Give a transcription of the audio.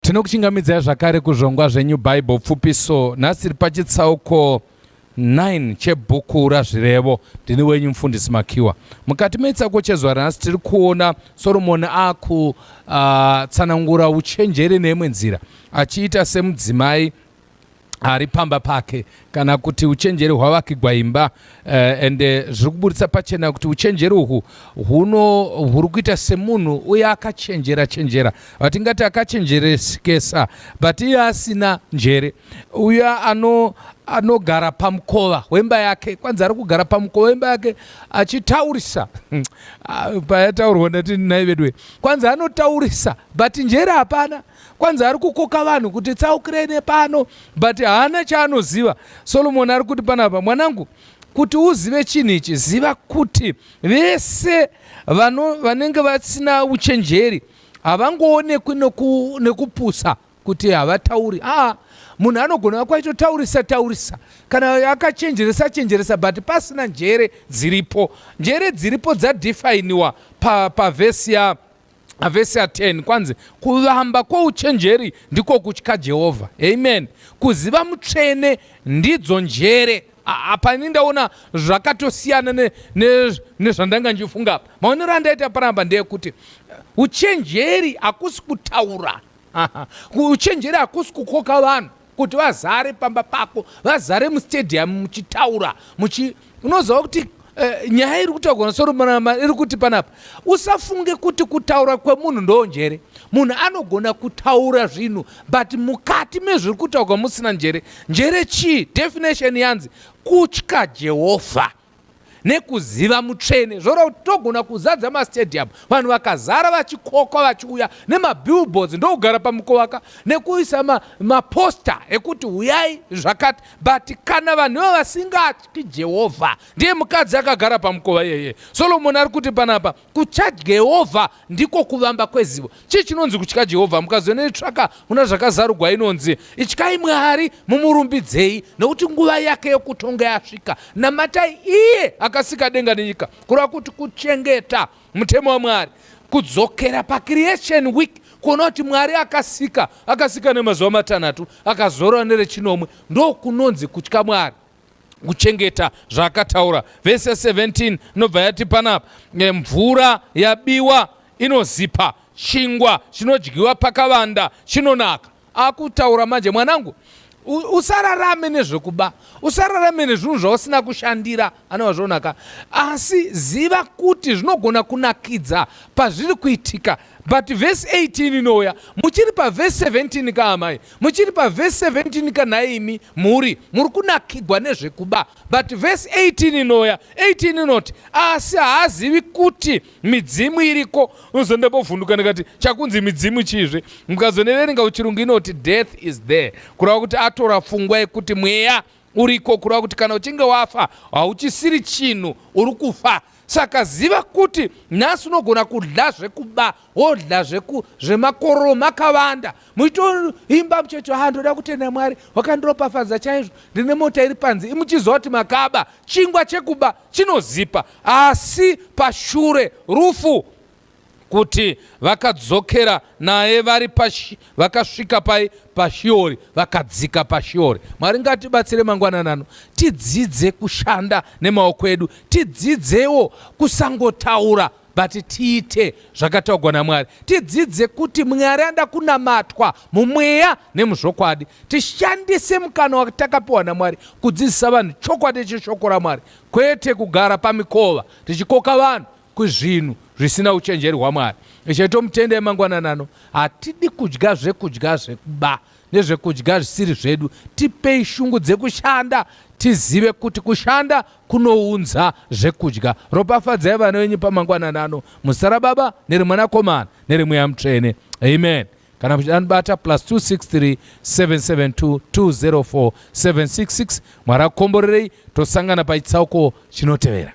Tinokuchingamidzai zvakare kuzvongwa zveNew Bible Pfupiso. Nhasi tiri pachitsauko 9 chebhuku raZvirevo. Ndini wenyu mufundisi Makiwa. Mukati mechitsauko chezuva ranhasi tiri kuona Soromoni akutsanangura ah, uh, uchenjeri neimwe nzira achiita semudzimai ari pamba pake kana kuti uchenjeri hwavakigwa imba uh, and eh, zviri kuburitsa pachena kuti uchenjeri uhwu huno huri kuita semunhu uye akachenjera chenjera vatingati akachenjeresekesa but iye asina njere uya ano anogara pamukova wemba yake kwanzi ari kugara pamukova wemba yake achitaurisa ah, payataurwa ndati nai vedwe kwanzi anotaurisa but njere hapana kwanzi ari kukoka vanhu kuti tsaukirei nepano but haana chaanoziva solomoni ari kuti panapa mwanangu kuti uzive chinhu ichi ziva kuti vese vanenge vasina uchenjeri havangoonekwi nekupusa kuti havatauri aa munhu anogona vakwaitotaurisa taurisa kana akachenjeresa chenjeresa but pasina njere dziripo njere dziripo dzadefiniwa pavhesi pa Vhesi ya 10 kwanzi kuvamba kwouchenjeri ndiko kutya Jehovha. Amen. Kuziva mutsvene ndidzo njere. Apa ini ndaona zvakatosiyana nezvandanga ne, ne ndichifunga apa. Maonero andaita panapa ndeyekuti eh, uchenjeri hakusi kutaura. Uchenjeri hakusi kukoka vanhu. kuti vazare pamba pako vazare mustadium muchitaura muchi unoziva kuti uh, nyaya iri kutaurwa nasoromama iri kuti panapa usafunge kuti kutaura kwemunhu ndoo njere munhu anogona kutaura zvinhu but mukati mezviri kutaurwa musina njere njere chii definition yanzi kutya jehovha nekuziva mutsvene zvoreva kuti togona kuzadza mastadium vanhu vakazara vachikokwa vachiuya nemabillboards ndokugara pamukovaka nekuisa maposta ma ekuti huyai zvakati but kana vanhu ivo vasingatyi jehovha ndiye mukadzi akagara pamukova iyeye solomoni ari kuti panapa Kutya Jehovha ndiko kuvamba kwezivo. Chii chinonzi kutya Jehovha? Mukazoenda netsvaka muna zvakazarugwa inonzi ityai Mwari mumurumbidzei nokuti nguva yake yokutonga yasvika. Namatai iye akasika denga nenyika, kureva kuti kuchengeta mutemo waMwari, kudzokera pacreation week kuona kuti Mwari akasika, akasika nemazuva matanhatu, akazorora nerechinomwe. Ndokunonzi kutya Mwari. kuchengeta zvaakataura vhesi ya 17 inobva yati panapa eh, mvura yabiwa inozipa chingwa chinodyiwa pakavanda chinonaka akutaura manje mwanangu usararame nezvekuba usararame nezvinhu zvausina kushandira anova zvonaka asi ziva kuti zvinogona kunakidza pazviri kuitika but vhesi 18 inouya muchiri pavhesi 17 kaamai Muchiri pa verse 17 ka nhaimi mhuri muri kunakigwa nezvekuba but verse 18 inoya 18 inoti asi haazivi kuti midzimu iriko unozondambovhunduka ndikati chakunzi midzimu chizve mukazoneverenga uchirungu inoti death is there kureva kuti atora pfungwa yekuti mweya uriko kureva kuti kana uchinge wafa hauchisiri chinhu uri kufa saka ziva kuti nhasi unogona kudya zvekuba wodya zvemakororo makavanda muchitoimba muchecho ha ah, ndoda kutenda mwari wakandiropafadza chaizvo ndine mota iri panzi imuchiziva kuti makaba chingwa chekuba chinozipa asi pashure rufu kuti vakadzokera naye vari pashi vakasvika pai pashiori vakadzika pashiori mwari ngatibatsire mangwanani ano tidzidze kushanda nemaoko edu tidzidzewo kusangotaura but tiite zvakataugwa namwari tidzidze kuti mwari anoda kunamatwa mumweya nemuzvokwadi tishandise mukana watakapiwa namwari kudzidzisa vanhu chokwadi cheshoko ramwari kwete kugara pamikova tichikoka vanhu kuzvinhu zvisina uchenjeri hwaMwari. Ishe tomutendai mangwanani ano, hatidi kudya zvekudya zvekuba nezvekudya zvisiri zvedu. Tipei shungu dzekushanda tizive kuti kushanda kunounza zvekudya. Ropafadzai vana venyu pamangwanani ano muzita raBaba nereMwanakomana nereMweya Mutsvene. Amen. kana muchidanibata plus 263 772 204 766 mwari akukomborerei tosangana pachitsauko chinotevera